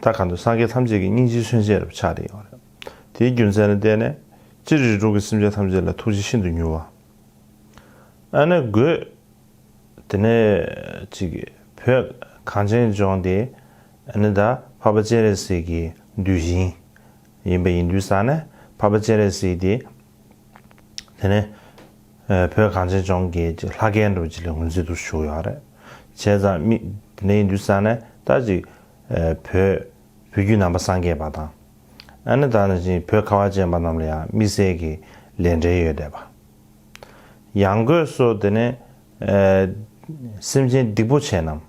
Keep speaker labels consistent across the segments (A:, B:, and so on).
A: ད་ག་དུས་སངས་རྒྱས་ཐམས་ཅད་ཀྱི་སྙིང་རྗེའི་མཚོན་བྱེད་རབ་ཆགས་དེ་ཡོང་བ་རེད། དེའི་རྒྱུ་མཚན་ལ་བལྟས་ནས། སྤྱིར་རིགས་དྲུག་གི་སེམས་ཅན་ཐམས་ཅད་ལ་ཐུགས་རྗེ་ཤིན་ཏུ་མྱུར་བ། ཨ་ནི་རྒོད། དེ་ནས། ཅིག། བོད། གངས་ཅན་ལྗོངས་འདི། ནི་ད། འཕགས་པ་སྤྱན་རས་གཟིགས་ཀྱི། འདུལ་ཞིང། ཡིན་པ་ཡིན་དུས་ས་ནི། འཕགས་པ་སྤྱན་རས་གཟིགས་འདི། དེ་ནི། བོད་གངས་ཅན་ལྗོངས་ཀྱི། ཅིག་ལྷ་སྐལ་འགྲོ་བྱེད་ལས་ངོས་འཛིན་དུ་བཞུགས་ཡོད་རེད། བྱས་ཙང། དེ་ནས་ཡིན་དུས་ས་ནི། ད། ཅིག། བོད། བོད་བརྒྱུད་ནང་པ་སངས་རྒྱས་པ་དང། ཨ་ནེ་དང། བོད་ཁ་བ་ཅན་པ་རྣམས་ལ་ཡང་དམིགས་བསལ་གྱི་ལས་འབྲེལ་ཡོད་བསྡད་པ། ཡང་སྒོས་སུ་དེ་ནས། སེམས་ཅན་སྡིག་པོ་ཆེ་རྣམས།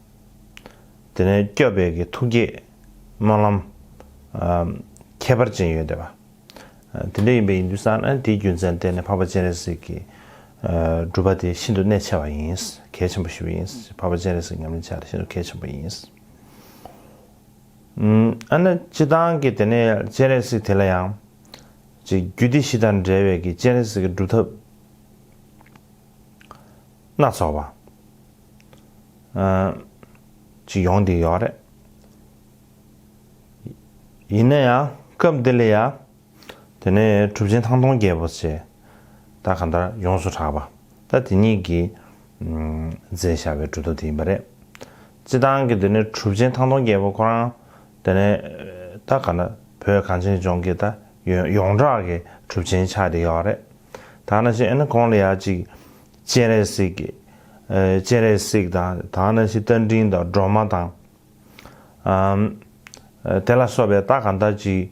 A: དེ་ནས་སྐྱོབ་པའི་གི་ཐུགས་བསྐྱེད། སྨོན་ལམ། ཁྱད་པར་ཅན་ཡོད་བསྡད་པ། དེ་འདྲ་ཡིན་པས་ཡིན་དུས་སང་ཨ་ནེ་དེའི་རྒྱུ་མཚན་བསྟན་ནས་འཕགས་པ་སྤྱན་རས་གཟིགས་ཀྱི། སྒྲུབ་པ་དེ་ཤིན་ཏུ་གནད་ཆེ་བ་ཡིན། གལ་ཆེན་པོ་ཞིག་ཡིན། འཕགས་པ་སྤྱན་རས་གཟིགས་ཉམས་ལེན་བྱ་དེ་ཤིན་ཏུ་གལ་ཆེན་པོ་ཡིན། ཨ་ནི་སྤྱི་བཏང་གི་དེ་ནས་སྤྱན་རས་གཟིགས་དེ་ལ་ཡང། ཅེས་རྒྱུད་སྡེ་བཞི་དང་འབྲེལ་བའི་གི་སྤྱན་རས་གཟིགས་ཀྱི་སྒྲུབ་ཐབས་སྣ་ཚོགས་པ། ཅིག་ཡོང་དེ་ཡོད་རེད། ཡིན་ན་ཡང་སྐབས་འདི་ལ་ཡང། དེ་ནས་གྲུབ་ཆེན་ཐང་སྟོང་རྒྱལ་པོ་ཆེ། ད་ག་འདྲ་ཡོངས་སུ་གྲགས་པ། ད་དེ་ཉིད་ཀྱིས། མཛད་བྱ་བའི་འབྲུ་དོ་དེ་ཡིན་པ་རེད། སྤྱི་བཏང་གི་དེ་ནས་གྲུབ་ཆེན་ཐང་སྟོང་རྒྱལ་པོ་ཁོ་རང། དེ་ནས། ད་ག་འདྲ་བོད་གངས་ཅན་ལྗོངས་ཀྱི་ད་ཡོད་ཡོངས་གྲགས་ཀྱི་གྲུབ་ཆེན་ཆགས་དེ་ཡོད་རེད། ད་ན་ཞིག་ཨེ་ན་གོང་ལ་ཡ་གཅིག། སྤྱན་རས་གཟིགས། སྤྱན་རས་གཟིགས་དང་ད་ན་ཞིག་རྟ་མགྲིན་དང་སྒྲོལ་མ་དང། དེ་ལ་སོགས་པའི་རྟགས་གང་དག་ཅིག།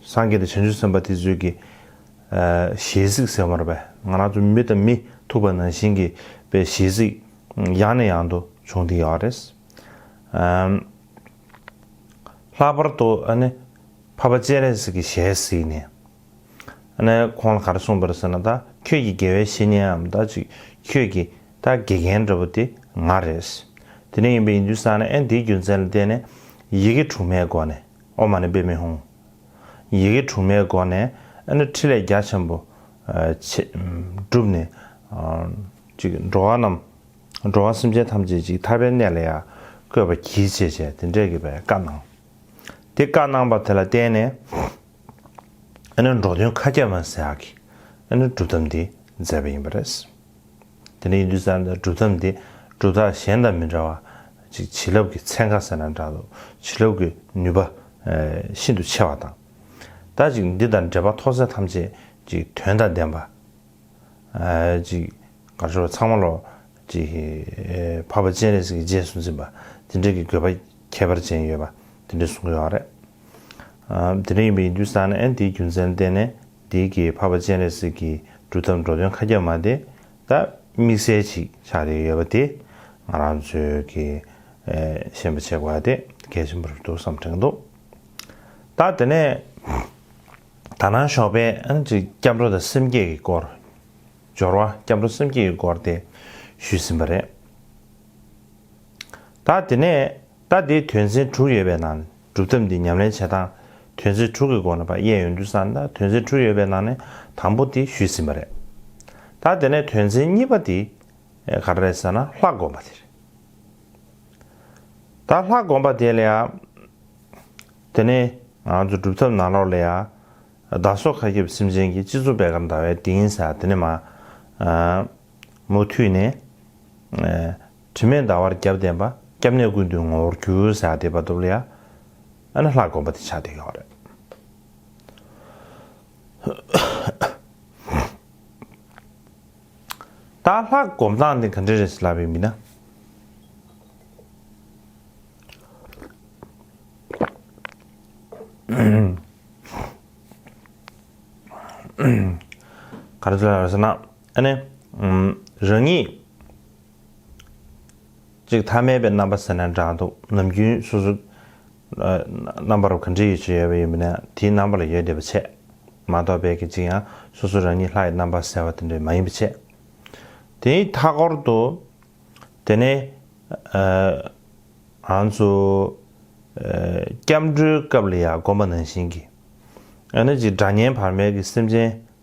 A: སངས་རྒྱས་དང་བྱང་ཆུབ་སེམས་དཔའ་དེ་ཚོས་ཀྱི། ཞལ་གཟིགས་ཟེར་བར་བས་ང་རང་ཚོ་མི་དང་མི་ཐུག་པ་ནང་བཞིན་གྱི་པའི་ཞལ་གཟིགས། ཡང་ནས་ཡང་དུ་བྱུང་སྟེ་ཡོད་རེད། ལྷག་པར་དུ་ཨ་ནི། འཕགས་པ་སྤྱན་རས་གཟིགས་ཀྱི་ཞལ་གཟིགས་ནས། ནས་ཁོང་ལ་ག་རེ་གསུངས་པ་རེད་ཟེར་ན་ད་ཁྱོད་ཀྱི་དགེ་བའི་བཤེས་གཉེན་འམ་ད་ཅིག་ཁྱོད་ཀྱི་ད་དགེ་རྒན་འདྲ་བོ་དེ་ང་རེད། དེ་ནས་ཡིན་པ་ཡིན་དུས་བསམ་ན་ཨེ་འདིའི་རྒྱུ་མཚན་ལ་བལྟས་ནས་ཡི་གེ་དྲུག་མའི་སྒོ་ནས་ཨོ་མ་ནི་དཔེ་མི་ཧུང། ཡི་གེ་དྲུག་མའི་སྒོ་ནས་ཨེ་ནི་ཕྲིན་ལས་རྒྱ་ཆེན་པོ་བྱེད། བསྒྲུབས་ནས་ཅིག་འགྲོ་བ་རྣམས་འགྲོ་བ་སེམས་ཅན་ཐམས་ཅད་ཅིག་ཐར་པའི་གནས་ལ་ཡང་བཀོད་པ་གྱིས་བྱེད་བྱས་དེ་འདྲས་ཀྱི་བའི་བཀའ་གནང། དེ་བཀའ་གནང་པ་དེ་ལ་བརྟེན་ནས་ཨ་ནུ་འབྲོག་སྟོན་ཁ་སྐྱ་མ་སེ་ཨ་ཁི་ཨ་ནུ་སྒྲུབ་ཐབས་འདི་མཛད་པ་ཡིན་པ་རེད། དེ་ནས་ཡིན་དུས་ཙང་སྒྲུབ་ཐབས་འདི་སྒྲུབ་ཐབས་གཞན་དང་མི་འདྲ་བ་ཅིག་བྱིན་རླབས་ཀྱི་ཚན་ཁ་ཟེར་ན་འདྲ་འདུག་བྱིན་རླབས་ཀྱི་ནུས་པ་ཤིན་ཏུ་ཆེ་བ་དང། དང་ཅིག་འདི་དང་འབྲེལ་པ་མཐོ་ཚད་ཐམས་ཅད་ཅིག་དོན་དང་ལྡན་པ། ཅིག་གར་སྦྱོར་བ་ཚང་མ་ལོ། ཅིག་ཕ་བ་སྤྱན་རས་གཟིགས་ཀྱི་རྗེས་སུ་འཛིན་པ་དེ་འདྲའི་གི་དགོས་པ། ཁྱད་པར་ཅན་ཡོད་པ་དེ་འདྲས་གསུངས་ཡོད་རེད། དེ་འདྲས་ཡིན་པ་ཡིན་དུས་སང་ནས་དེའི་རྒྱུ་མཚན་བསྟན་ནས་དེའི་གི་འཕགས་པ་སྤྱན་རས་གཟིགས་ཀྱི་སྒྲུབ་ཐབས་འགྲོ་དོན་ཁ་རྒྱབ་མ་དེ་ད་དམིགས་བསལ་ཅིག་ཆགས་རེ་ཡོད་པ་དེ་ང་རང་ཚོས་གི་ཤེས་པ་ཆེ་བ་དེ་གལ་ཆེན་པོ་རེད་འདུག་བསམ་དྲན་འདུག་ད་དེ་ནས་ད་ནང་ཞོགས་པའི་སྐྱབས་འགྲོ་དང་སེམས་བསྐྱེད་ཀྱི་སྐོར་སྦྱོར་བ་སྐྱབས་འགྲོ་སེམས་བསྐྱེད་ཀྱི་སྐོར་དེ་ཞུས་ཟིན་པ་རེད། ད་དེ་ནས་ད་དེའི་དོན་ཚན་དྲུག་ཡོད་པའི་ནང་ནས་སྒྲུབ་ཐབས་འདི་ཉམས་ལེན་བྱེད་སྟངས་དོན་ཚན་དྲུག་གི་སྒོ་ནས་པ་དབྱེ་ཡོང་དུས་སམ་ད་དོན་ཚན་དྲུག་ཡོད་པའི་ནང་ནས་དང་པོ་དེ་ཞུས་ཟིན་པ་རེད། ད་དེ་ནས་དོན་ཚན་གཉིས་པ་དེ་ག་རེ་རེད་ཟེར་ན་ལྷ་བསྒོམ་པ་དེ་རེད། ད་ལྷ་བསྒོམ་པ་དེ་ལ་ཡང་དེ་ནི་ང་ཚོ་སྒྲུབ་ཐབས་ནང་ལོགས་ལ་ཡང་བདག་སོགས་མཁའ་ཁྱབ་སེམས་ཅན་གྱི་སྤྱི་གཙུག་བད་གར་འདར་བའི་གདིང་ས་དེ་ནས་མ་མུ་མཐུད་ནས། དྲི་མེད་ཟླ་བར་རྒྱབ་བསྟན་པ། སྐྱབས་གནས་ཀུན་འདུས་ངོ་བོར་གྱུར། ཟེར་ཡག་བསྡེབས་པ་དུབ་ལ་ཡ། ཨ་ན་ལྷ་དགོན་པ་དེ་ཆགས་བསྡད་ཡོད་རེད། ད་ལྷ་དགོན་སྟངས་དེ་ག་འདྲ་རེད་ཟེར་ལབ་ཡོད་མིན་ན། ག་རེ་ཟེར་ལབ་ཡོད་ཟེར་ན། ཨ་ནི། རང་ཉིད། གཅིག་ཐ་མལ་པའི་རྣམ་པ་ཟེར་ན་འདྲ་འདུག་ནམ་རྒྱུན་སོ་སོ། རྣམ་པར་ག་འདྲི་ཡོད་ཆེ་ཡོད་པ་ཡིན་པ་ན་དེའི་རྣམ་པ་ལ་ཡོད་བསྡད་པ་ཆད། མ་གཏོགས་དཔེ་གལ་ཆེ་ཡང་སོ་སོ་རང་ཉིད་ལྷ་ཡི་རྣམ་པ་ཟེར་བ་དེ་འདྲ་མ་ཡིན་པ་ཆད། དེའི་མཐའ་སྐོར་དུ། དེ་ནས། ང་ཚོ། སྐྱབས་འགྲོའི་སྐབས་ལ་ཡང་དགོངས་པ་ནང་བཞིན་གྱི། ཨ་ནི་གཅིག་སྒྲ་བརྙན་བར་མེད་ཀྱི་སེམས་ཅན།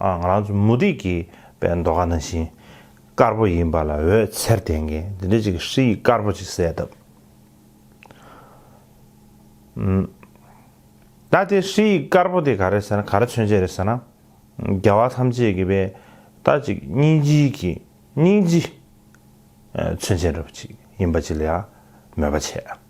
A: ང་རང་ཚོ་མུ་ཏིག་གི་པའི་མདོ་ཁ་ན་ཤིང་དཀར་པོ་ཡིན་པ་ལ་འོད་ཟེར་ལྡན་མཁན་འདི་འདྲ་ཅིག་གིས་ཧྲི་ཡིག་དཀར་པོ་ཅིག་གསལ་བཏབ། ད་དེ་ཧྲི་ཡིག་དཀར་པོ་དེ་ག་རེད་ཟེར་ན་ག་རེ་མཚོན་བྱེད་རེད་ཟེར་ན། རྒྱལ་བ་ཐམས་ཅད་ཀྱི་པའི་ད་ཅིག་སྙིང་རྗེ་ཡི་གི་སྙིང་རྗེ་མཚོན་བྱེད་འདྲ་པོ་ཅིག་ཡིན་པ་ཅིག་ལ་ཡང་མོས་པ་བྱས།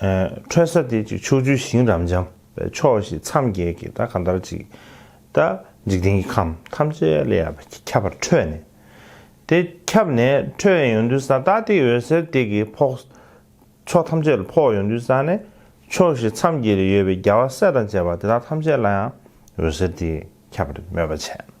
A: ཁྲོད་ས་དེ་ཅིག་ཕྱོགས་བཅུའི་ཞིང་རབ་འབྱམས་པའི་ཕྱོགས་བཞི་མཚམས་བརྒྱད་ཀྱི་ད་ག་ཟླར་ཅིག། ད་འཇིག་རྟེན་གྱི་ཁམས་ཐམས་ཅད་ལས་ཡར་ཁྱབ་པར་འཕྲོས་ནས། དེ་ཁྱབ་ནས་འཕྲོས་ཡོང་དུས་ས་ད་ཏི་འོད་ཟེར་དེ་གིས་ཕོག། ཕྱོགས་ཐམས་ཅད་ལ་ཕོག་ཡོང་དུས་ས་ནས་ཕྱོགས་བཞི་མཚམས་བརྒྱད་ལས་ཡོད་པའི་རྒྱལ་བ་སྲས་དང་བཅས་པ་དེ་དག་ཐམས་ཅད་ལ་ཡང་འོད་ཟེར་དེས་ཁྱབ་པར་མོས་པ་བྱས།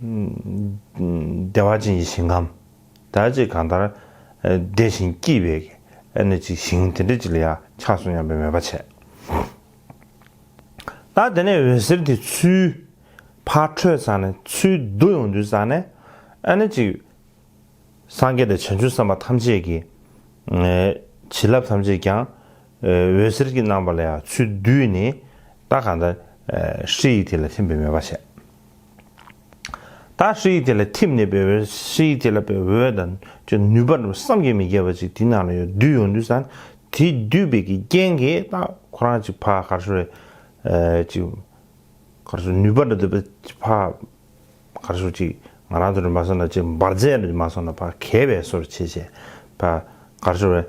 A: བདེ་བ་ཅན་གྱི་ཞིང་ཁམས་དག་ཅིག་གང་ལྟར། བདེ་ཞིང་སྐྱིད་པའི་གནས་ཅིག་ཞིང་དེ་འདྲ་ཅིག་ལ་ཡང་ཆགས་སོང་སྙམ་པའི་མོས་པ་བྱས། ད་དེ་ནས་འོད་ཟེར་དེ་ཆུའི་ཕར་འཕྲོས་ཚར་ནས་ཆུའི་རྡུལ་ཡོངས་འདུས་ཚར་ནས། ཨ་ནི་ཅིག། སངས་རྒྱས་དང་བྱང་ཆུབ་སེམས་དཔའ་ཐམས་ཅད་ཀྱི། བྱིན་རླབས་ཐམས་ཅད་ཀྱང། འོད་ཟེར་གྱི་རྣམ་པ་ལ་ཡང་ཆུའི་རྡུལ་ནི། ད་གང་ལྟར། ཧྲཱི་ཡིག་དེ་ལ་ཐིམ་པའི་མོས་པ་བྱས། ད་ཧྲི་ཡིག་དེ་ལ་ཐིམ་ནས་པའི་འོད་ཧྲི་ཡིག་དེ་ལ་པའི་འོད་དང་ཅི་ནུས་པར་བསམ་གྱིས་མི་ཁྱབ་པ་ཅིག་དེ་ནང་ལ་ཡོད་བསྡུས་ཡོང་དུས་སམ་དེ་བསྡུས་པའི་གི་རྐྱེན་གྱིས་ད་ཁོ་རང་ཅིག་བག་གར་སོ་རེ་ཅིག་གར་སོ་ནུས་པར་འདོད་པ་ཅིག་བག་གར་སོ་ཅིག་ང་རང་དུ་རེ་མ་སོང་ན་ཅིག་འབར་རྫས་རེ་མ་སོང་ན་བག་གས་པའི་སོར་ཕྱེད་བྱས་བག་གར་སོ་རེ།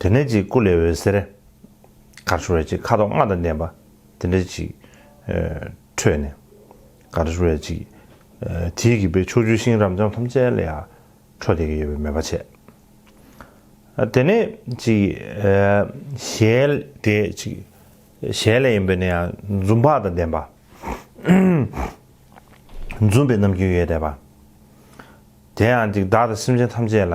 A: དེ་ནས་ཅིག་སྐུ་ལས་འོད་ཟེར་གར་བྱུང་བས་ཅིག་ཁ་དོག་ལྔ་དང་ལྡན་པ་དེ་འདྲས་ཅིག་འཕྲོས་ནས། གར་བྱུང་བས་ཅིག། དེའི་གིས་པས་ཕྱོགས་བཅུའི་ཤིང་རབ་འབྱམས་ཐམས་ཅད་ལ་ཡང་འཕྲོ་དེ་གིས་ཡོད་པའི་མོས་པ་བྱས། དེ་ནས་ཅིག། ཞལ་དེ་ཅིག། ཞལ་ལས་ཡིན་པས་ན་ཡང་འཛུམ་བག་དང་ལྡན་པ། འཛུམ་པའི་རྣམ་རྒྱུན་ཡོད་དད་པ། དེ་ཡང་ཅིག་བདག་དང་སེམས་ཅན་ཐམས་ཅད་ལ་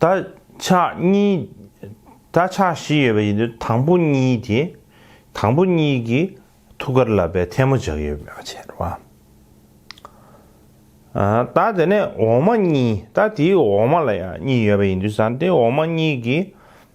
A: ད་ཆ་གཉིས། ད་ཆ་བཞི་ཡོད་པ་ཡིན་དུས་དང་པོ་གཉིས་དེ། དང་པོ་གཉིས་ཀྱི་ཐུགས་ཀར་ལ་བའི་ཐལ་མོ་འཇགས་ཡོད་པའི་ཕྱིར་རོ། ད་དེ་ནས་འོག་མ་གཉིས། ད་དེའི་འོག་མ་ལ་ཡང་གཉིས་ཡོད་པ་ཡིན་དུས་སམ་དེའི་འོག་མ་གཉིས་ཀྱི།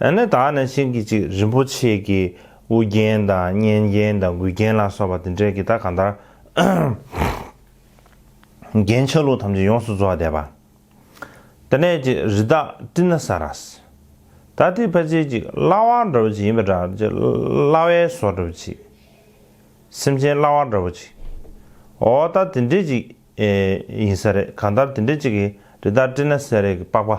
A: ཨ་ནི་དག་ནས་ཤིང་གི་ཅིག་རིན་པོ་ཆེ་གི་དབུ་རྒྱན་དང་སྙན་རྒྱན་དང་མགུལ་རྒྱན་ལ་སོགས་པ་དེ་འདྲས་ཀྱི་དག་གང་དག་རྒྱན་ཆ་ལུགས་ཐམས་ཅད་ཡོངས་སུ་རྫོགས་བསྡད་པ། དེ་ནས་ཅིག་རི་དྭགས་སྤྲིན་ན་ས་རཱས། ད་དེའི་ཕལ་ཆེར་ཅིག་གླ་བ་འདྲ་བོ་ཅིག་ཡིན་པ་འདྲ་ཅིག་གླ་བའི་ཟོ་འདྲ་བོ་ཅིག། སེམས་ཅན་གླ་བ་འདྲ་བོ་ཅིག། འོ་ད་དེ་འདྲས་ཅིག་ཡིན་ས་རེད་གང་ལྟར་དེ་འདྲས་ཅིག་གིས་རི་དྭགས་སྤྲིན་ན་ས་རཱས་ཀྱི་པགས་པ།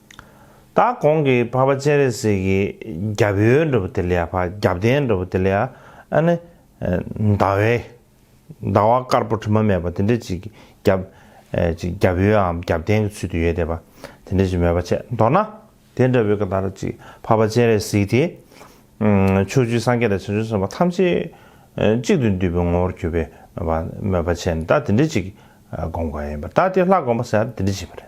A: ད་གོང་གི་འཕགས་པ་སྤྱན་རས་གཟིགས་ཀྱི་རྒྱབ་ཡོལ་འགྲོ་བུ་དེ་ལ་ཡ་བྷ་རྒྱབ་རྟེན་འགྲོ་བུ་དེ་ལ་ཡ་ཨ་ནི། ཟླ་བས། ཟླ་བ་དཀར་པོ་དྲི་མ་མེད་པ་དེ་འདྲ་ཅིག་གི་རྒྱབ། ཅིག་རྒྱབ་ཡོལ་འམ་རྒྱབ་རྟེན་གྱི་ཚུལ་དུ་ཡོད་དེ་བ། དེ་འདྲ་ཅིག་མེད་པ་ཆད་མདོར་ན། དེ་འདྲ་བུ་ག་དར་ཅིག་འཕགས་པ་སྤྱན་རས་གཟིགས་དེ། ཕྱོགས་བཅུའི་སངས་རྒྱས་དང་བྱང་ཆུབ་སེམས་དཔའ་ཐམས་ཅད། གཅིག་ཏུ་འདུས་པའི་ངོ་བོར་གྱུར་པའི་བ་མོས་པ་ཆད་ནས་ད་དེ་འདྲ་ཅིག་དགོངས་པ་ཡིན་པ་ད་དེ་ལྷ་དགོངས་པ་ཟེར་དེ་འདྲ་ཅིག་པ་རེད།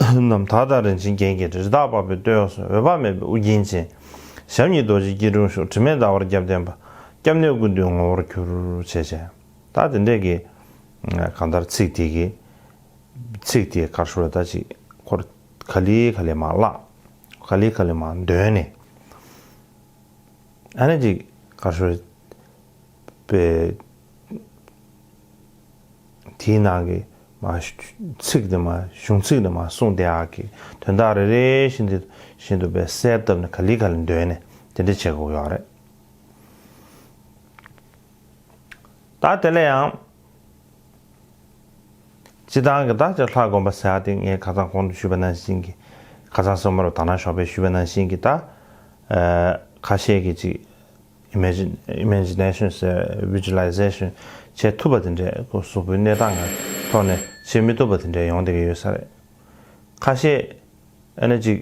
A: རྣམས་དག་དང་རིན་ཆེན་རྒྱན་གྱི་རི་དྭགས་པགས་པའི་སྟོད་གཡོགས་སུ་འོད་དཔག་མེད་པའི་དབུ་རྒྱན་ཅན། ཞབས་གཉིས་རྡོ་རྗེའི་སྐྱིལ་ཀྲུང་བཞུགས་དྲི་མེད་ཟླ་བར་རྒྱབ་བརྟེན་པ། སྐྱབས་གནས་ཀུན་འདུས་ངོ་བོར་གྱུར། བྱས་བྱས། དག་དེ་འདྲས་ཀྱི། གང་ལྟར་ཚིག་དེ་གི། ཚིག་དེ་གར་ཤོར་ད་ཅིག་འཁོར། ག་ལི་ག་ལི་མ་བཀླག། ག་ལི་ག་ལི་མ་འདོན་ནས། ཨ་ན་ཅིག་གར་ཤོར། པའི། དེའི་ནང་གི་མ། ཚིག་དེ་མ། གཞུང་ཚིག་དེ་མ་གསུངས་དེ་ཨག་གི་དོན་དག་རེ་རེ་བཞིན་དེ་བཞིན་དུ་བས་གསལ་བཏབ་ནས་ག་ལི་ག་ལི་འདོན་ནས་དེ་འདྲ་བྱེད་དགོས་ཀྱི་ཨག་རེད། ད་དེ་ལ་ཡང། སྤྱི་བཏང་གི་བདག་ཅག་ལྷ་དགོན་པ་ཟེར་དེ་ངའི་ཁ་ཚང་གོང་དུ་བཞུད་པ་ནང་བཞིན་གྱི། ཁ་ཚང་སོ་མ་རུ་དར་ནག་ཞོགས་པས་བཞུད་པ་ནང་བཞིན་གྱི་ད། ཁ་ཤས་ཀྱིས་ཅིག། Imagination ཟེར Visualization བྱེད་ཐུབ་པ་དེ་འདྲའི་གཟུགས་པོའི་གནས་སྟངས་ཀྱི་ཐོག་ནས་བྱེད་མི་ཐུབ་པ་དེ་འདྲའི་ཡོང་བསྡད་ཀྱི་ཡོད་ས་རེད། ཁ་ཤས་ཨེ་ན་ཅིག་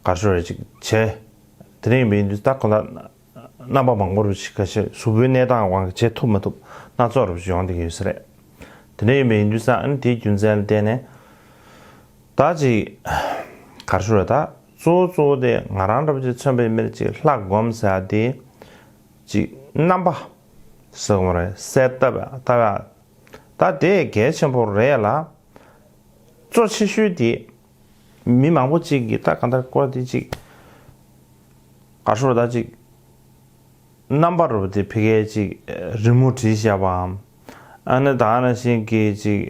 A: གར་ཤོར་རེ་ཅིག་བྱས། དེ་འདྲ་ཡིན་པའི་ཡིན་དུས་ད་གོ་ལ་རྣམ་པ་མང་པོ་རུ་ཅིག་ག་ཤེད་གཟུགས་པོའི་གནས་སྟངས་དབང་གིས་བྱེད་ཐུབ་མ་ཐུབ་སྣ་ཚོགས་རུ་ཅིག་ཡོང་བསྡད་ཀྱི་ཡོད་ས་རེད། དེ་འདྲ་ཡིན་པའི་ཡིན་དུས་ས་ཨེ་ན་དེའི་རྒྱུ་མཚན་ལ་བརྟེན་ནས་ད་ཅིག་གར་ཤོར་རེ་ད་གཙོ་བོ་གཙོ་བོ་དེ་ང་རང་འདྲ་བོ་ཅིག་མཚོན་པའི་མིར་ཅིག་ལྷ་བསྒོམ་ཟེར་ཡ་དེ། ཅིག་རྣམ་པ། ཟེར་བ་རེད་གསལ་བཏབ་ཡ་བཏབ་ཡ། ད་དེ་གལ་ཆེན་པོ་རེད་ལ། གཙོ་ཆེ་ཤོས་དེ། མི་མང་པོ་ཅིག་གིས་ད་གང་ལྟར་བཀོད་དེ་ཅིག། ག་ཧྲུལ་བོ་ད་ཅིག། རྣམ་པ་རུ་དེ་ཕི་གས་ཅིག་རི་མོ་བྲིས་བཞག་པའམ། ཨ་ནི་ད་ཨ་ན་ཞིག་གིས་ཅིག།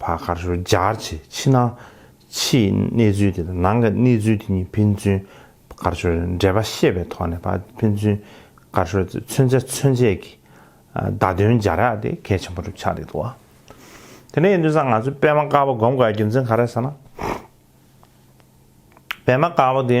A: བ་གར་ཞོར་སྦྱར་བྱས་ཕྱི་ནང་ཕྱིའི་གནས་ཚུལ་དེ་དང་ནང་གི་གནས་ཚུལ་དེ་གཉིས་ཕན་ཚུན་གར་ཞོར་འབྲེལ་པ་ཤེས་པའི་ཐོག་ནས་ཕན་ཚུན་གར་ཞོར་དེ་མཚོན་བྱ་མཚོན་བྱེད་ཀྱི་བརྡ་དོན་སྦྱར་ཡག་དེ་གལ་ཆེན་པོ་གྲུབ་ཆགས་རེད་འདུག་དེ་ནས་ཡིན་དུས་སང་ང་ཚོའི་པད་མ་དཀར་པོ་སྒོམ་དགའི་རྒྱུ་མཚན་ག་རེད་ཟེར་ན། པད་མ་དཀར་པོ་དེ།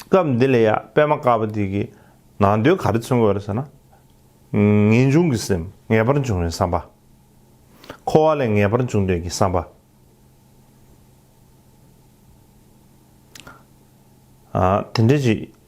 A: སྐབས་འདི་ལ་ཡང་པད་མ་དཀར་པོ་དེ་གའི་ནང་དོན་ག་རེ་མཚོན་དགོས་རེད་ཟེར་ན། ངེས་འབྱུང་གི་སེམས་ངེས་པར་འབྱུང་བའི་བསམ་པ། འཁོར་བ་ལས་ངེས་པར་འབྱུང་འདོད་ཀྱི་བསམ་པ། དེ་འདྲ་ཞིག་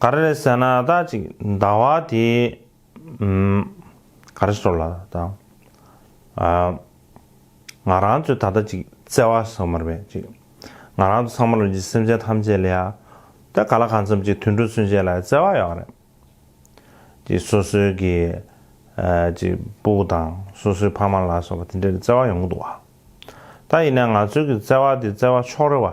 A: ག་རེ་རེད་ཟེར་ན་ད་ཅིག་ཟླ་བ་དེ་ག་རེ་ཟོ་ལ་ད་ང་རང་ཚོས་ད་ལྟ་ཅིག་བརྩེ་བ་ཟོ་མར་བས་ཅིག་ང་རང་ཚོ་ཚང་མ་ལོ་ཅིག་སེམས་ཅན་ཐམས་ཅད་ལ་ཡ་ད་ག་ལ་གང་འཚམ་ཅིག་དུད་འགྲོ་ཚུན་ཆད་ལ་བརྩེ་བ་ཡོད་རེད་ཅིག་སོ་སོའི་གི་ཅིག་སྤུ་བོ་དང་སོ་སོའི་ཕ་མ་ལ་སོགས་པ་དེ་འདྲའི་བརྩེ་བ་ཡོང་གི་འདུག་བ་ད་ཡིན་ན་ང་ཚོའི་གི་བརྩེ་བ་དེ་བརྩེ་བ་ཕྱོགས་རེ་བ།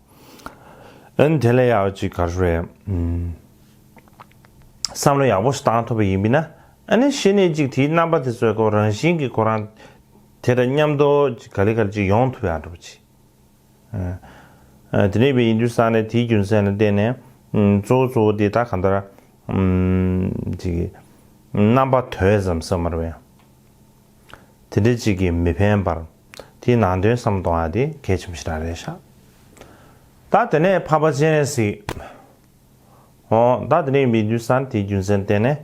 A: ཨན། དེ་ལས་ཡག་པ་ཅིག་ག་རེ་རེད། བསམ་བློ་ཡག་པོ་ཞིག་བཏང་ཐུབ་པ་ཡིན་པས་ན། ཨ་ནི་ཤེས་ནས་ཅིག་དེའི་རྣམ་པ་དེ་ཚོའི་ཐོག་རང་བཞིན་གྱིས་ཁོ་རང། དེ་འདྲ་མཉམ་དུ་ཅིག་ག་ལེ་ག་ལེ་ཅིག་ཡོང་ཐུབ་ཡག་འགྲོ་པ་ཅིག། དེ་འདྲ་ཡིན་པས་ཡིན་དུས་བསམ་ནས་དེའི་རྒྱུ་མཚན་ལ་བརྟེན་ནས། གཙོ་བོ་གཙོ་བོ་དེ་ད་ག་འདྲ། ཅིག། རྣམ་པ་དོད་ཙམ་བསམ་མར་བས། དེ་འདྲའི་གཅིག་གིས་མི་ཕན་པར། དེའི་ནང་དོན་བསམ་གཏོང་བ་དེ་གལ་ཆེན་པོ་ཞིག་རང་རེད་ཤག། ད་དེ་ནས་ཕ་པ་སྤྱན་རས་གཟིགས། ཨོ། ད་དེ་ནས་མི་འདུན་ས་དེའི་རྒྱུ་མཚན་བསྟན་ནས།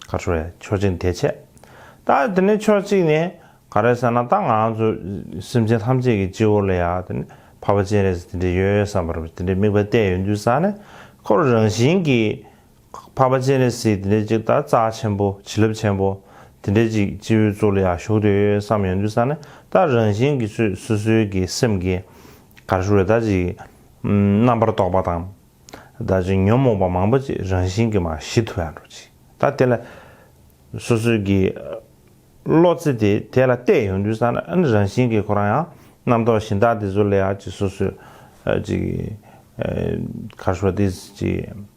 A: ག་ཆོ་རེད་ཕྱོགས་གཅིག་ནས་དེ་བྱས། ད་དེ་ནས་ཕྱོགས་གཅིག་ནས་ག་རེད་ཟེར་ན་ད་ང་ཚོ་སེམས་ཅན་ཐམས་ཅད་ཀྱི་སྤྱི་བོ་ལ་ཡང་དེ་ནས་ཕ་པ་སྤྱན་རས་གཟིགས་དེ་འདྲས་ཡོད་བསམ་པར་དེ་འདྲའི་དམིགས་པ་གཏད་ཡོད་འདུན་ས་ནས་ཁོ་རང་བཞིན་གྱིས་འཕགས་པ་སྤྱན་རས་གཟིགས་དེ་འདྲའི་ཅིག་ད་རྩ་ཆེན་པོ་བྱིན་རླབས་ཆེན་པོ་དེ་འདྲའི་ཅིག་སྤྱི་བོའི་གཙུག་ལ་ཡང་བཞུགས་དུས་ཡོད་བསམ་ཡོང་དུས་ས་ནི་ད་རང་བཞིན་གྱི་ཚུལ་སོ་སོའི་གི་སེམས་ཀྱི་གར་བཞུགས་རེད་ད་ཅིག་རྣམ་པར་རྟོག་པ་དང་ད་ཅིག་ཉོན་མོངས་པ་མང་པོ་ཅིག་རང་བཞིན་གྱི་མ་ཞི་དུ་ཡང་འགྲོ་ཅིག་ད་དེ་ལ་སོ་སོའི་གི་བློ་རྩེ་དེ་དེ་ལ་གཏད་ཡོང་དུས་ས་ནི་རང་བཞིན་གྱི་ཁོ་རང་ཡང་རྣམ་རྟོག་བཞིན་ད་དེ་ཚུལ་ལ་ཡང་ཅིག་སོ་སོའི་ཅིག་གར་བཞུགས་ད་དེ་ཅིག།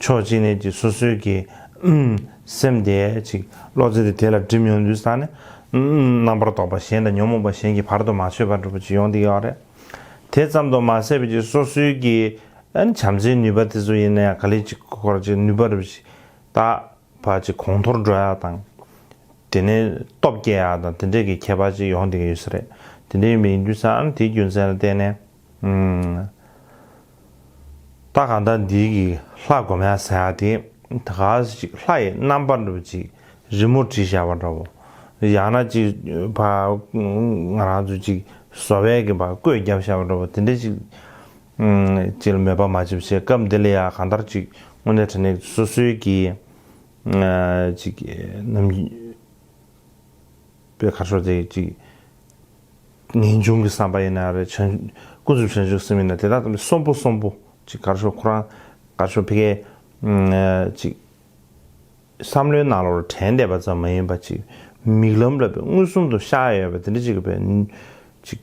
A: ཕྱོགས་གཅིག་ནས་ཀྱི་སོ་སོའི་གི། སེམས་དེ་ཅིག་བློ་རྩེ་དེ་དེ་ལ་སྒྲིབ་མྱོང་དུས་སང་ནི། རྣམ་པར་རྟོག་པ་གཞན་དང་ཉོན་མོངས་པ་གཞན་གྱི་བར་དུ་མ་ཆོད་པར་འགྲུབ་པ་ཅིག་ཡོང་དེ་ཡོད་རེད། དེ་ཙམ་དུ་མ་ཟད་པའི་ཀྱི་སོ་སོའི་གི། བྱམས་བརྩེའི་ནུས་པ་དེ་ཚོ་ཡིན་ན་ཡང་ག་ལེ་ཅིག་སྐོར་ཅིག་ནུས་པ་རུ་ཅིག་དག་པ་ཅིག་གོང་མཐོར་འགྲོ་ཡག་དང། དེ་ནས་སྟོབས་སྐྱེ་ཡག་དང་དེ་འདྲའི་གི་ཁྱད་པར་ཅིག་ཡོང་དེ་གི་ཡོད་ས་རེད། དེ་འདྲའི་ཡོད་པའི་ཡིན་དུས་སང་དེའི་རྒྱུ་མཚན་ལ་བརྟེན་ནས། ད་གང་ལྟར་འདིའི་གི་ལྷ་སྒོ་མལ་ཟེར་ཡག་དེ་ད་ག་ཟེར་ཅིག་ལྷ་ཡི་རྣམ་པར་འགྲུབ་ཅིག་རི་མོ་བྲིས་བཞག་པ་འདྲ་བོ། ཡང་ན་ཅིག་བ་ང་རང་ཚོ་ཅིག་བཟོ་བས་གི་བ་བརྐོས་བརྒྱབ་བཞག་པ་འདྲ་བོ་དེ་འདྲས་ཅིག་ཅིག་ལ་མོས་པ་མ་བྱེད་བྱས་སྐབས་འདི་ལ་ཡང་གང་ལྟར་ཅིག་དངོས་གནས་དྲན་ནས་སོ་སོའི་གི་ཅིག་ནམ། པའི་ཁ་ཕྱོགས་དེ་གཅིག། ངེས་འབྱུང་གི་བསམ་པ་ཡིན་ན་ཡང་རེད། ཀུན་རྫོབ་བྱང་ཆུབ་སེམས་ཡིན་ན་དེ་དག་དང་མི་གསོན་པོ་གསོན་པོ། གཅིག་ཁ་ཕྱོགས་ཁོ་རང་ཁ་ཕྱོགས་ཕི་གའི། གཅིག། བསམ་བློའི་ནང་ལོགས་ལ་དྲན་བསྡད་པ་ཙམ་མ་ཡིན་པ་གཅིག། མིག་ལམ་ལ་དཔེ་མངོན་སུམ་དུ་ཤར་ཡོད་པ་དེ་འདྲ་གཅིག་གི་བས། གཅིག།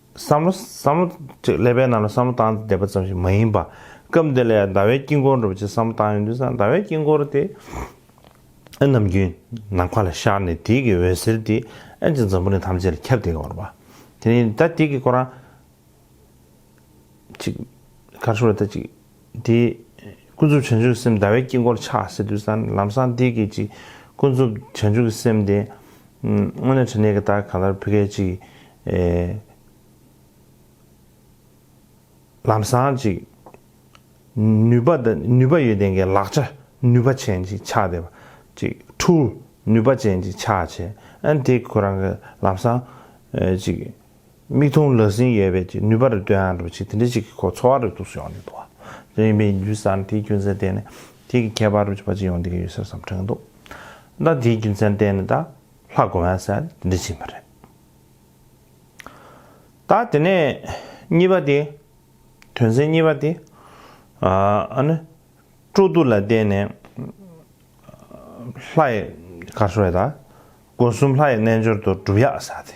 A: བསམ་བློ་བསམ་བློ། ཀླད་པའི་ནང་ལ་བསམ་བློ་བཏང་སྟེ་བསྡད་པ་ཙམ་ཞིག་མ་ཡིན་པ། སྐབས་འདི་ལ་ཡང་ཟླ་བའི་དཀྱིལ་འཁོར་འགྲོ་བ་ཅིག་བསམ་བློ་བཏང་ཡོང་དུས་སམ་ཟླ་བའི་དཀྱིལ་འཁོར་དེ་ཨེ་ནམ་རྒྱུན་ནམ་མཁའ་ལ་ཤར་ནས་དེའི་གི་འོད་ཟེར་དེ་ཨེ་ཅིག་འཛམ་བུ་གླིང་ཐམས་ཅད་ལ་ཁྱབ་སྟེ་འོར་བ། དེ་ནས་ད་དེ་གི་སྐོར་རང་ཅིག། ཁར་ཤོར་ད་ཅིག། དེ། ཀུན་རྫོབ་བྱང་ཆུབ་སེམས་ཟླ་བའི་དཀྱིལ་འཁོར་ཆགས་སེ་དུས་སམ་ལམ་སྲང་དེའི་སྐད་ཅིག་ཀུན་རྫོབ་བྱང་ཆུབ་སེམས་དེ། དངོས་གནས་དྲི་མེད་ཀྱི་རྟགས་ག་ལར་བུ་སྐད་ཅིག། ལམ་སྲང་ཅིག། ནུས་པ་དང་ནུས་པ་ཡོད་ལྡན་གྱི་ལག་ཆ་ནུས་པ་ཅན་ཅིག་ཆགས་བསྡད་པ་ཅིག་འཁྲུལ་ནུས་པ་ཅན་ཅིག་ཆགས་བྱས་ཨ་དེ་ཁོ་རང་གི་ལམ་སྲང་ཅིག། མིག་མཐོང་ལག་ཟིན་ཡོད་པའི་ཀྱི་ནུས་པ་རེ་སྟོན་ཨ་རོ་ཆེ་དེ་འདྲ་ཞིག་གི་ཁོ་འཚོ་བ་རེ་ཐུགས་སུ་ཡོང་ནས་འདུག་ཨ། རེད་མི་འགྱུར་ས་ནི་དེའི་རྒྱུ་མཚན་བསྟན་ནས་དེའི་གི་ཁྱད་པར་རུ་ཆེ་བ་ཅི་ཡོང་འདི་གི་ཡོད་ཟེར་བསམ་དྲན་འདུག་ད་དེའི་རྒྱུ་མཚན་བསྟན་ནས་ད་ལྷ་དགོན་བ་ཟེར་ཡ་དེ་འདྲ་ཞིག་ཡིན་པ་རེད། ད་དེ་ནས་གཉིས་པ་དེ་དོན་ཚན་གཉིས་པ་དེ་ཨ་ནི་སྤྲོ་བསྡུ་ལ་བསྟན་ནས་ལྷ་ཡི་གར་སོགས་ཡོད་ད་དགོན་གསུམ་ལྷ་ཡི་རྣལ་འབྱོར་དུ་སྒྲུབ་ཡག་ས་དེ།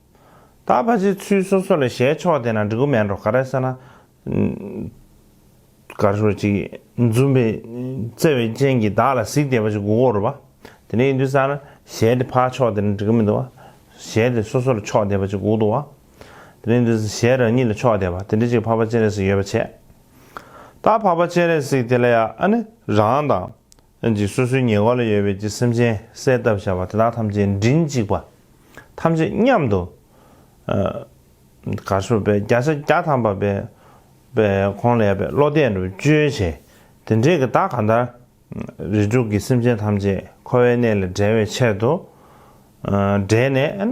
A: ད་ཕ་ཚའི་ཚུལ་སོ་སོ་ལས་ཞལ་ཕྱོགས་དེ་ན་འབྲི་གུ་མན་རོ་ཀ་ར་ས་ན། གར་ཤོར་ཅིག། འཛུམ་པའི་བརྩེ་བའི་སྤྱན་གྱིས་བདག་ལ་གཟིགས་དེ་ཕ་ཆུ་གུ་གོ་རུ་བ། དེ་ནས་ཡིན་དུས་ས་ན་ཞལ་དེ་ཕ་ཕྱོགས་དེ་ན་འབྲི་གུ་མི་འདུག་བ། ཞལ་དེ་སོ་སོ་ལ་ཕྱོགས་དེ་ཕ་ཆུ་གུ་འདུག་བ། དེ་ནས་ཡིན་དུས་ས་ཞལ་རང་ཉིད་ལ་ཕྱོགས་དེ་བ་དེ་འདྲི་ཅིག་ཕ་ཕ་སྤྱན་རས་གཟིགས་ཡོད་པ་བྱས། ད་ཕ་ཕ་སྤྱན་རས་གཟིགས་དེ་ལ་ཡ་ཨ་ནི་རང་དང། ལྷན་ཅིག་སོ་སོའི་ཉེ་འཁོར་ལ་ཡོད་པའི་ཀྱི་སེམས་ཅན་གསལ་བཏབ་བྱ་བ་དེ་དག་ཐམས་ཅད་མགྲིན་གཅིག་པ་ཐམས་ཅད་མཉམ་དུ་གར་སོགས་པའི་བརྒྱ་ཆ་བརྒྱ་ཐམ་པ་པའི་པའི་ཁོང་ལས་པའི་བློ་གཏད་དུ་བཅོལ་བྱས་དེ་འབྲས་ཀྱི་བདག་གང་ལྟར་རིགས་དྲུག་གི་སེམས་ཅན་ཐམས་ཅད་འཁོར་བའི་གནས་ལས་བསྒྲལ་བའི་ཕྱིར་དུ་བསྒྲལ་ནས།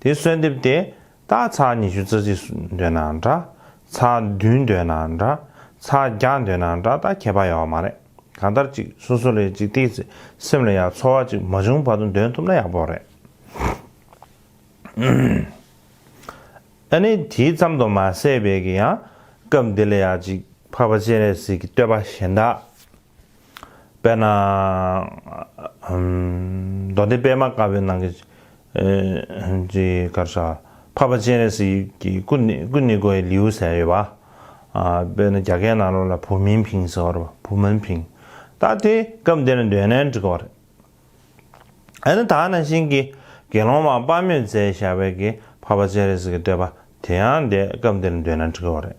A: དེ་གསོལ་འདེབས་ཏེ། རྟགས་ཚར་ཉི་ཤུ་རྩ་གཅིག་འདོད་ན་འདྲ། ཚར་བདུན་འདོད་ན་འདྲ། ཚར་བརྒྱ་འདོད་ན་འདྲ་ད་ཁྱད་པར་ཡོད་པ་མ་རེད། གང་ལྟར་ཅིག་སོ་སོ་ལས་ཅིག་ཏིག་ཚེ་སེམས་ལ་ཡང་ཚོར་བ་ཅིག་མ་བྱུང་བར་དུ་འདོན་ཐུབ་ན་ཡག་པོ་རེད། ཨ་ནི་དེའི་ཙམ་དུ་མ་ཟད་བལ་གྱི་ཡང་སྐབས་འདི་ལ་ཡང་ཅིག་འཕགས་པ་སྤྱན་རས་གཟིགས་ཀྱི་བསྟོད་པ་གཞན་དག། དཔེར་ན། མདོ་སྡེ་པདྨ་དཀར་པོའི་ནང་གི་ཀར་ཤྭ། འཕགས་པ་སྤྱན་རས་གཟིགས་ཀྱི་སྐུ་ནི་དགོད་ཡི་ལེའུ་ཟེར་ཡོད་པ། དཔེར་ན་རྒྱ་སྐད་ནང་ལོགས་ལ་བུ་མིན་ཕིང་ཟེར་བ་རེད། བུ་མིན་ཕིང། ད་དེ་སྐབས་འདིར་འདོན་ན་འགྲིག་གི་རེད། ཨ་ནི་དག་ན་ཤིང་གི་དགེ་སློང་མ་དཔའ་མོས་རྫས་བཞག་པའི་གི་བྷ་བ་ཅཱ་རེས་ཀྱི་བསྟོད་པ་དེ་ཡང་འདི་སྐབས་འདིར་འདོད་ན་འགྲིག་བ་རེད།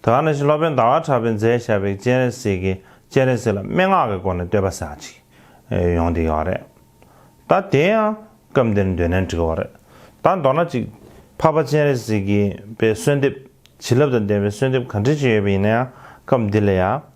A: དག་ན་ཤིང་སློབ་དཔོན་ཟླ་བ་གྲགས་པས་རྫས་བཞག་པའི་སྤྱན་རས་གཟིགས་ཀྱི་སྤྱན་རས་གཟིགས་ལ་སྨྲེ་སྔགས་ཀྱི་སྒོ་ནས་བསྟོད་པ་ཟག་ཅིག། ཡོང་འདི་ཡོག་རེད། ད་དེ་ཡང་སྐབས་འདིར་འདོད་ན་འགྲིག་བ་རེད། ད་མདོར་ན་ཅིག་བྷ་བ་ཅཱ་རེས་གཟིགས་ཀྱི་པའི་གསོལ་འདེབས། བྱིན་རླབས་དང་ལྡན་པའི་གསོལ་འདེབས་གང་དྲིས་ཅི་ཡོད་པ་ཡིན་ན་ཡང་སྐབས་འདི་ལ་ཡང།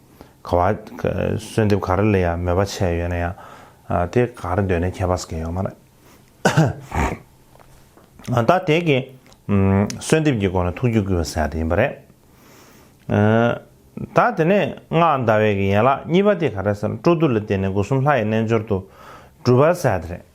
A: ག་བ། གསོལ་འདེབས་ག་རེ་ལ་ཡང་མོས་པ་བྱས་ཡོད་ན་ཡང། དེ་ག་རེ་འདོད་ནས་ཁྱད་པར་ཟེར་ཡོད་མ་རེད། ད་དེ་གའི། གསོལ་འདེབས་ཀྱི་སྒོ་ནས་ཐུགས་རྒྱུད་བསྐུལ་བ་ཟེར་ཡ་དེ་ཡིན་པ་རེད། ད་དེ་ནས་སྔགས་བཟླ་བའི་ཡན་ལག་གཉིས་པ་དེ་ག་རེ་ཟེར་ན་སྤྲོ་བསྡུ་ལ་བརྟེན་ནས་སྒོ་གསུམ་ལྷ་ཡི་རྣལ་འབྱོར་དུ། སྒྲུབ་པ་ཟེར་ཡ་དེ་རེད།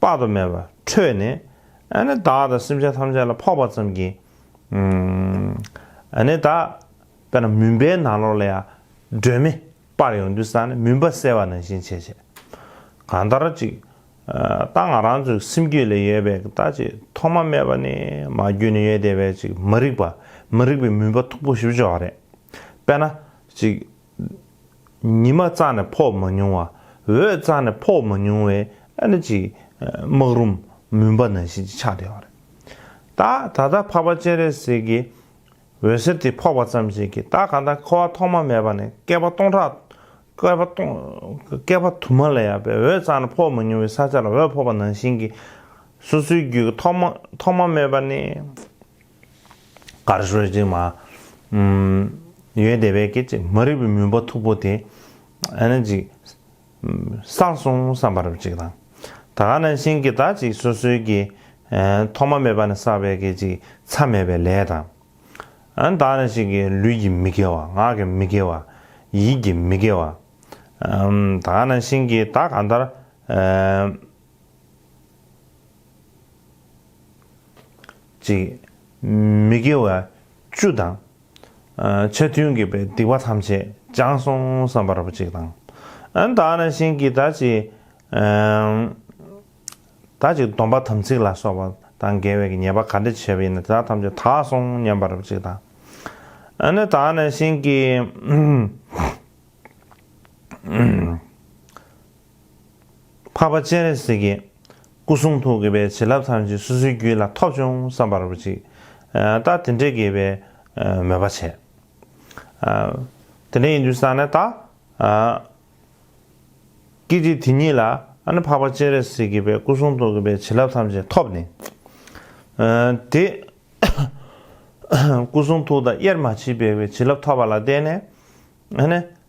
A: དཔག་ཏུ་མེད་པ་འཕྲོས་ནས། བདག་དང་སེམས་ཅན་ཐམས་ཅད་ལ་ཕོག་པ་ཙམ་གྱིས། བདག། དཔེར་ན་མུན་པའི་ནང་ལོགས་ལ་ཡང། སྒྲོན་མེ་སྤར་ཡོང་དུས་བསགས་ནས་མུན་པ་སེལ་བ་ནང་བཞིན་བྱས། གང་ལྟར་ཅིག། རྟགས་ང་རང་ཚོའི་སེམས་རྒྱུད་ལས་ཡོད་པའི་རྟགས་ཅིག་ཐོག་མ་མེད་པ་ནས་མ་རྒྱུད་ནས་ཡོད་བསྡད་པའི་ཅིག་མ་རིག་པ་མི་རིག་པའི་མུན་པ་མཐུག་པོ་ཞིག་འབྱོར་བ་རེད། དཔེར་ན། ཅིག། ཉི་མ་གཙང་ནས་ཕོག་མ་མྱོང་བ། འོད་གཙང་ནས་ཕོག་མ་མྱོང་བའི་ཨ་ནི་ཅིག། སྨག་རུམ་མུན་པ་ནང་བཞིན་གྱི་ཆགས་བྲལ་བ་རེད། ད་ད་ལྟ་འཕགས་པ་སྤྱན་རས་གཟིགས་ཀྱི་འོད་ཟེར་དེ་ཕོག་པ་ཙམ་ཞིག་གིས་ད་ག་ད་འཁོར་བ་ཐོག་མ་མེད་པ་ནས་བསྐལ་པ་སྟོང་ཕྲག། བསྐལ་པ་དུ་མ་ལས་ཡག་པའི་འོད་གཙང་ནས་ཕོག་མ་མྱོང་བའི་ས་ཆ་ལ་འོད་ཕོག་པ་ནང་བཞིན་གྱི། སོ་སོའི་རྒྱུད་ཀྱི་ཐོག་མ་མེད་པ་ནས། གར་སོན་ཅིག་མ། ཡོན་ཏན་བས་སྐད་ཅིག་མ་རིག་པའི་མུན་པ་མཐུག་པོ་དེ། ཨ་ན་ཅིག། སངས་སོང་བསམ་པར་ཅིག་དང། ད་ག་ན་བཞིན་གྱི་བདག་ཅིག་སོ་སོའི་གི། ཐོག་མ་མེད་པ་ནས་བསགས་པའི་སྐད་ཅིག་མཚམས་མེད་པའི་ལས་དང། བདག་ན་བཞིན་གྱི་ལུས་ཀྱི་མི་དགེ་བ་ངག་གི་མི་དགེ་བ། ཡིད་ཀྱི་མི་དགེ་བ། ད་ག་ན་བཞིན་གྱི་བདག་གང་ལྟར། ཅིག། མི་དགེ་བ་བཅུ་དང། ཆ་མཐུན་དགེ་བའི་སྡིག་པ་ཐམས་ཅད་སྦྱངས་སོང་བསམ་པར་བགྱིད་དང། དག་ན་བྱིན་གྱིས་དག་ཅིག། དག་ཅིག་སྡོམ་པ་དམ་ཚིག་ལ་སོགས་པ་དང་འགལ་བའི་ཉེས་པ་ག་འདྲ་བྱས་པ་ཡིན་ནམ་དེ་ཐམས་ཅད་དག་སོང་སྙམ་པར་བགྱིད་དང། དག་ན་བྱིན་གྱིས། འཕགས་པ་སྤྱན་རས་གཟིགས་ཀྱི་སྐུ་གསུང་ཐུགས་ཀྱི་པའི་བྱིན་རླབས་ཐམས་ཅད་སོ་སོའི་རྒྱུད་ལ་ཐོབ་བྱུང་བསམ་པར་བགྱི། རྟགས་དེ་འདྲའི་དགེ་བའི་མོས་པ་བྱས། དེ་འདྲ་ཡིན་དུས་སང་ནས་ད། ཀིར་ཏི་དེ་ཉིད་ལ་ནི་འཕགས་པ་སྤྱན་རས་གཟིགས་ཀྱི་པའི་སྐུ་གསུང་ཐུགས་ཀྱི་པའི་བྱིན་རླབས་ཐམས་ཅད་ཐོབ་ནས། དེ། སྐུ་གསུང་ཐུགས་དང་དབྱེར་མ་མཆིས་པའི་བའི་བྱིན་རླབས་ཐོབ་པ་ལ་བརྟེན་ནས།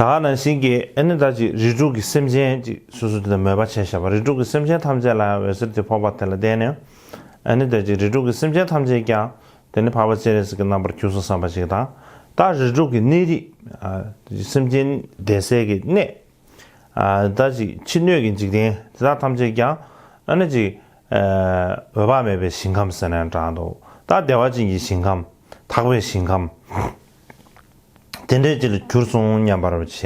A: ད་ནང་བཞིན་གྱི་ཨེ་ནི་ད་ཅིག་རིགས་དྲུག་གི་སེམས་ཅན་གཅིག་སོ་སོ་དེ་དང་མོས་པ་བྱས་ཞེས་པ་རིགས་དྲུག་གི་སེམས་ཅན་ཐམས་ཅད་ལ་ཡང་འོད་ཟེར་དེ་ཕོག་པ་དེ་ལ་བརྟེན་ནས་ཨེ་ནི་ད་ཅིག་རིགས་དྲུག་གི་སེམས་ཅན་ཐམས་ཅད་ཀྱང་དེ་ནི་འཕགས་པ་སྤྱན་རས་གཟིགས་ཀྱི་རྣམ་པར་འཁྱུགས་སོ་བསམ་པ་ཞིག་དང་ད་རིགས་དྲུག་གི་གནས་རིགས་སེམས་ཅན་བདེ་གསལ་གྱི་གནས་ཨེ་ནི་ད་ཅིག་ཕྱི་སྣོད་ཀྱི་འཇིག་རྟེན་དེ་དག་ཐམས་ཅད་ཀྱང་ཨེ་ནི་ཅིག་འོད་དཔག་མེད་པའི་ཞིང་ཁམས་ཟེར་ནས་གྲགས་འདུག་ད་བདེ་བ་ཅན་གྱི་ཞིང་ཁམས་དག་པའི་ཞིང་ཁམས། དེ་འདྲའི་ཅི་ལ་གྱུར་སོང་སྙམ་པར་བྱས།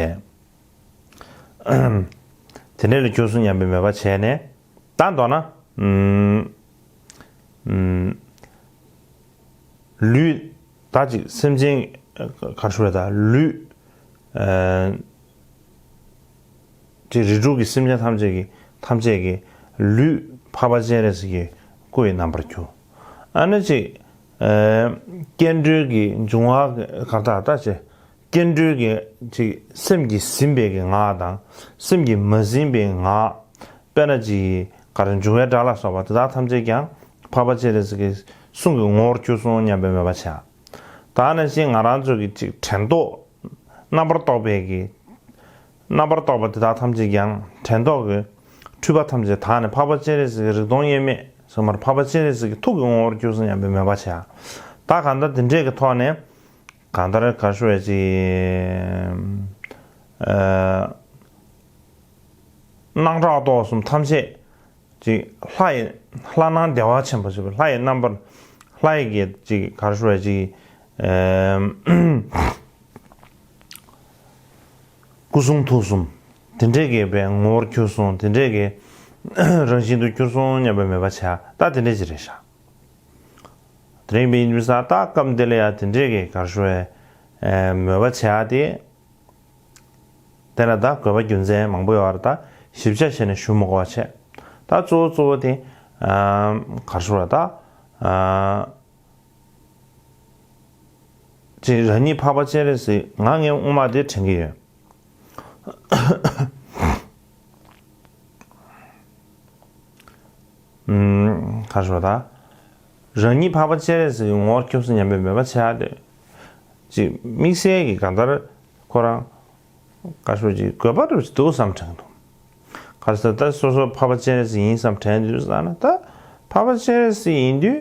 A: དེ་འདྲའི་ལ་གྱུར་སོང་སྙམ་པའི་མོས་པ་བྱས་ནས། ད་མདོར་ན། ལུས། དག་ཅིག་སེམས་ཅན། གར་ཞུ་བའི་དག། ལུས། ཀྱི་རིགས་དྲུག་གི་སེམས་ཅན་ཐམས་ཅད་ཀྱི། ཐམས་ཅད་ཀྱི། ལུས། འཕགས་པ་སྤྱན་རས་གཟིགས་ཀྱི། སྐུ་ཡི་རྣམ་པར་གྱུར། ཨ་ནི་ཅིག། སྐྱེ་འགྲོའི་གི་འབྱུང་བ་གར་དག་ལྟ་བྱེད། སྐྱེ་འགྲོའི་གི་ཅིག་སེམས་ཀྱི་ཟིན་པའི་གི་ངག་དང་སེམས་ཀྱི་མ་ཟིན་པའི་ངག། དཔེར་ན་ཅི་ཡི་གར་འབྱུང་བའི་སྒྲ་ལ་སོགས་པ་དེ་དག་ཐམས་ཅད་ཀྱང་འཕགས་པ་སྤྱན་རས་གཟིགས་ཀྱི་གསུང་གི་ངོ་བོར་གྱུར་སོང་སྙམ་པའི་མོས་པ་བྱ། དག་ནི་ཅི་ང་རང་ཚོ་གི་ཅིག་དྲན་རྟོག་རྣམ་པར་རྟོག་པའི་གི། རྣམ་པར་རྟོག་པ་དེ་དག་ཐམས་ཅད་ཀྱང་དྲན་རྟོག་གི་འཁྲུལ་པ་ཐམས་ཅད་དག་ནས་འཕགས་པ་སྤྱན་རས་གཟིགས་ཀྱི་རིག་སྟོང་དབྱེར་མེད་ཟུང་མར་འཕགས་པ་སྤྱན་རས་གཟིགས་ཀྱི་ཐུགས་ཀྱི་ངོ་བོར་གྱུར་སོང་སྙམ་པའི་མོས་པ་བྱ། བདག་གང་ལྟར་འདི་འདྲའི་གི་ཐོག་ནས། གང་ལྟར་གར་ཤོར་བས་ཅི། སྣང་གྲགས་རྟོག་གསུམ་ཐམས་ཅད་ཅིག། ལྷ་ཡི། ལྷ་སྣང་བདེ་བ་ཆེན་པོ་ཞེས་པའི་ལྷ་ཡི་རྣམ་པར། ལྷ་ཡི་གེ་ཅིག་གར་ཤོར་བས་ཅི། སྐུ་གསུང་ཐུགས་གསུམ་དེ་འདྲའི་དགེ་བའི་ངོ་བོར་གྱུར་སོང་དེ་འདྲའི་དགེ་རང་བཞིན་དུ་གྱུར་སོང་སྙམ་པའི་མོས་པ་བྱ་སྟ་དེ་འདྲའི་ཅི་རེ་བཞག་དེ་རིང་པའི་ཉིན་བཟའ་ཟླ་སྐབས་འདི་ལ་ཡང་དེ་འདྲའི་དགེ་གར་ཤོར་བའི་མོས་པ་བྱས་ཏེ། དེ་ལ་ད་གོས་པ་རྒྱུ་མཚན་མང་པོ་ཡོད་བར་ད་ཞིབ་ཆ་བྱས་ནས་ཞུ་མི་གོ་བ་བྱས་ད་གཙོ་བོ་གཙོ་བོ་དེ་གར་ཤོར་བ་ད། ཅེས་རང་ཉིད་འཕགས་པ་སྤྱན་རས་གཟིགས་ང་ངའི་དབུ་མ་དེ་དྲན་གྱི་ཡོད། ཁ་ཤོ་ད། རང་ཉིད་འཕགས་པ་སྤྱན་རས་གཟིགས་ཀྱི་ངོ་བོར་སྐྱོབས་སོ་སྙམ་པའི་མོས་པ་ཆེ་ཧ་ལས། ཅེས་དམིགས་བསལ་གྱི་གང་ལྟར་ཁོ་རང། ཁ་ཤོ་ཅིག་དགོས་པ་རེད་འདུག་བསམ་དྲན་འདུག། ག་ས་ད་སོ་སོ་འཕགས་པ་སྤྱན་རས་གཟིགས་ཡིན་བསམ་དྲན་དུས་ས་ན་ད་འཕགས་པ་སྤྱན་རས་གཟིགས་ཡིན་དུས་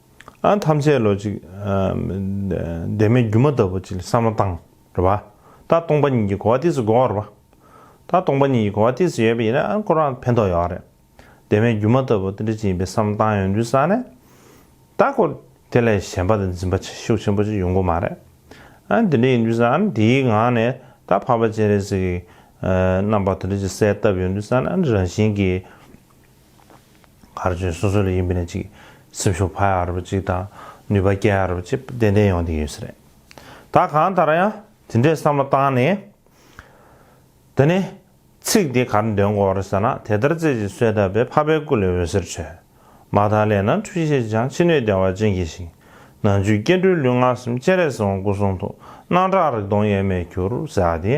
A: ཨང་ཐམས་ཅད་ལོ་གཅིག། འདས་མའི་སྒྱུ་མ་ལྟ་བུ་ཅིག་ལ་བསམ་ན་བཏང། རེད་པ། ད་སྟོང་པ་ཉིད་ཀྱི་གོ་བ་དེ་སུ་གོ་བ་རེད་པ། ད་སྟོང་པ་ཉིད་ཀྱི་གོ་བ་དེ་སུ་ཡོད་པ་ཡིན་ན་ཨང་ཁོ་རང་ཕན་ཐོགས་ཡོད་རེད། འདས་མའི་སྒྱུ་མ་ལྟ་བུ་དེ་འདྲ་ཅིག་ཡིན་པའི་བསམ་བཏང་ཡོང་དུས་བསམ་ནས། ད་ཁོ། དེ་ལས་གཞན་པ་དང་འཛིན་པ་ཆེ་ཤུགས་ཆེན་པོ་ཅིག་ཡོང་གི་མ་རེད། ཨང་དེ་འདྲ་ཡིན་དུས་བསམ་ནས་དེའི་ངང་ནས་ད་འཕགས་པ་སྤྱན་རས་གཟིགས་ཀྱི། རྣམ་པ་དེ་འདྲ་ཅིག་གསལ་བཏབ་ཡོང་དུས་བསམ་ན་ཨང་རང་བཞིན་གྱིས། གར་སྤྱོད་སོ་སོ་ལས་ཡིན་པའི་ནས་གཅིག་སེམས་ཤུགས་འཕར་ཡག་རུ་བ་གཅིག་དང་ནུས་པ་སྐྱེད་ཡག་རུ་བ་གཅིག་ཏན་ཏན་ཡོང་དེ་ཡོད་སྲིད་རེད་ད་གང་ལྟར་ཡང་དེ་འདྲའི་བསམ་བློ་བཏང་ནས་དེ་ནས་ཚིག་དེ་གར་འདོན་དགོས་རེད་ཟེར་ན་དེ་ལྟར་རྩེ་གཅིག་གསོས་བཏབ་པའི་ཕ་པའི་སྐུ་ལས་འོད་ཟེར་འཕྲོས་མ་ཐག་སླད་ན་འཁྲུལ་ཤེས་ཀྱི་ཆང་ཕྱི་སྣོད་བདེ་བ་ཅན་གྱི་ཞིང་ནང་བཅུད་སྐྱེ་འགྲོའི་ལུས་ངག་སེམས་སྤྱན་རས་གཟིགས་དབང་སྐུ་གསུང་ཐུགས་སྣང་གྲགས་རིག་སྟོང་དབྱེར་མེད་གྱུར་ཟེར་བ་དེ།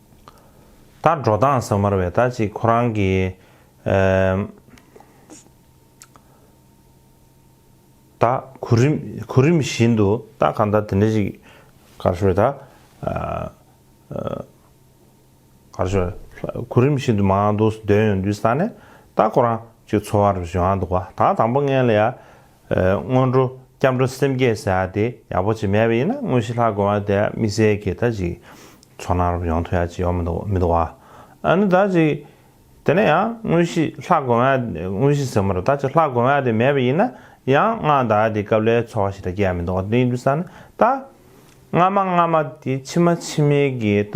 A: ད་འགྲོ་སྟངས་ཟ་མར་བས་ད་ཅིག་ཁོ་རང་གི། ད་གོ་རིམ་གོ་རིམ་བཞིན་དུ་ད་ག་ད་དེ་འདྲ་ཞིག་གར་ཞོར་ད། གར་ཞོར་གོ་རིམ་བཞིན་དུ་མ་འདུག་སྡོད་ཡོང་དུས་ད་ནས་ད་ཁོ་རང་ཅིག་འཚོ་བར་བཞུགས་ཨང་འདུག་ག་ད་དང་པོ་ངས་ལ་ཡ། སྔོན་འགྲོ་སྐྱབས་འགྲོ་སེམས་བསྐྱེད་ཟེར་བ་དེ་ཡག་པོ་ཅིག་མེད་པ་ཡིན་ན་དངོས་གཞི་ལྷག་དགོས་པ་དེ་དམིགས་བསལ་གྱིས་ད་ཅིག་ཚོགས་ནང་རུབ་ཡོང་ཐུབ་ཡག་ཅིག་ཡོག་མི་འདུག་མི་འདུག་བ། ཨ་ནི་ད་ཅིག་དེ་ནས་ཡང་དངོས་གཞི་ལྷག་དགོས་པ་དངོས་གཞི་ཟེར་མོ་རུ་ད་ཅིག་ལྷག་དགོས་པ་དེ་མེད་པ་ཡིན་ན་ཡང་སྔགས་བཟླ་བ་དེ་སྐབས་ལས་ཚོགས་ཤིག་ད་སྐྱེ་ཡག་མི་འདུག་བ་དེ་ཡིན་དུས་ས་ནི་ད། སྔ་མ་སྔ་མ་དེ་ཕྱི་མ་ཕྱི་མའི་གི་ད་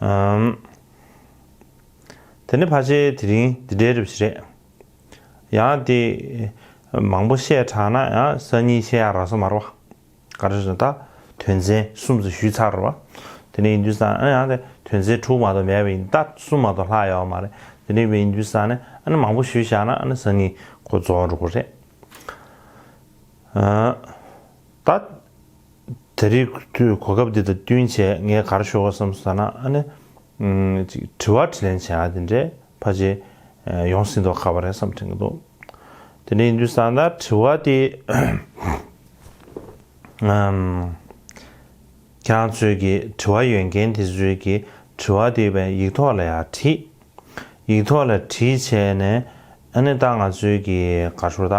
A: ཨམ། དེ་ནི་ཕ་ཆེ་དེ་རིང་འདི་འདྲའི་རིབ་ཞིག་རེད། ཡང་དེ། མང་པོ་བཤད་དྲགས་ན་ཡང་གསར་རྙིང་ཆེ་ཡག་ར་སོ་མར་བ། ག་རེ་རེད་ད། དོན་ཚན་གསུམ་ཚོ་ཞུས་ཚར་བ། དེ་ནི་ཡིན་དུས་ས་ནི་ཡང་དེ་དོན་ཚན་དྲུག་མ་གཏོགས་མེད་པ་ཡིན་ད་གསུམ་མ་གཏོགས་ལྷག་ཡོད་མ་རེད་དེ་རིང་བས་ཡིན་དུས་ས་ནི་ཨ་ནི་མང་པོ་ཞུས་བཞག་ན་ཨ་ནི་གསར་རྙིང་ཁོ་རྫོགས་འགྲོ་གི་རེད། ཨམ། ད། དེ་རིགས་དུས་གོ་སྐབས་འདི་དང་བསྟུན་བྱས་ངས་གར་ཤོར་བ་བསམ་སོང་ད་ན་ཨ་ནི། ཅིག་དྲི་བ་དྲི་ལན་བྱས་ཡག་དེ་འདྲས་ཕ་རྗེས་ཡོང་ཟིན་དོག་ཁ་བ་རེད་བསམ་དྲན་གྱི་འདུག་དེ་འདྲས་ཡིན་དུས་བསམ་ན་དྲི་བ་དེ། ཁྱེད་རང་ཚོས་ཀྱི་དྲི་བ་ཡོད་མཁན་དེ་ཚོས་ཀྱི་དྲི་བ་དེ་བས་ཡིག་ཐོག་ལ་ཡག་བྲིས། ཡིག་ཐོག་ལ་བྲིས་བྱས་ནས་ཨ་ནི་ད་ང་ཚོས་ཀྱི་གར་ཤོར་ད།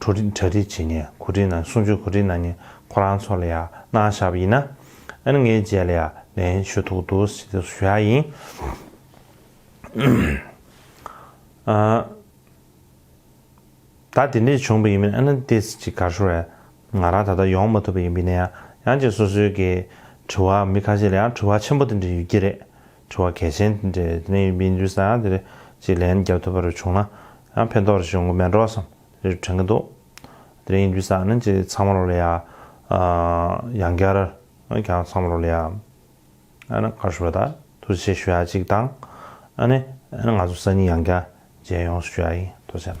A: གྲ་སྒྲིག་བྱེད་ངེས་གོ་སྒྲིག་གནང་གསུང་ཆོས་གོ་སྒྲིག་གནང་ངེས་ཁོ་རང་ཚོ་ལ་ཡང་གནང་བཞག་པ་ཡིན་ན་ཨན་ངའི་རྗེས་ལ་ཡང་ལན་ཞུ་ཐུག་འདུག་ཞུ་ཡག་ཡིན། ད་དེ་འདྲས་བྱུང་པ་ཡིན་མིན་ཨན་ཏེ་སི་ཅིག་གར་ཤོར་རེད་ང་རང་ད་ལྟ་ཡོང་མ་ཐུབ་པ་ཡིན་པས་ན་ཡང་ཡང་ཅིག་སོ་སོའི་གི་དྲི་བ་མི་ཁ་ཤས་ལ་ཡང་དྲི་བ་ཆེན་པོ་དེ་འདྲས་ཡོད་ཀྱི་རེད་དྲི་བ་གལ་ཆེན་དེ་འདྲའི་གནས་ཡུལ་མི་འདུག་ས་དེ་རེད་ཅེས་ལན་རྒྱབ་ཐུབ་པ་རེ་བྱུང་ན་ཡང་ཕན་ཐོགས་རེ་ཞུ་འགོ་མེད་འགྲོ་བསམ་རེ་དྲན་གྱི་འདུག་དེ་རིང་ཡིན་དུས་ས་ནི་ཅི་ཚང་མ་རོ་ལེ་ཡ་ཡང་སྐྱར་ཀྱང་ཚང་མ་རོ་ལེ་ཡ་ཨ་ནི་ཁ་ཧྲི་བ་ད་ཐུགས་རྗེ་ཆེ་ཞུ་ཡ་གཅིག་དང་ཨ་ནི་ཨ་ནི་ང་ཚོ་ས་གཉིས་ཡང་སྐྱར་མཇལ་ཡོང་ཞུ་ཡ་ཡིན་དོ་ཅན།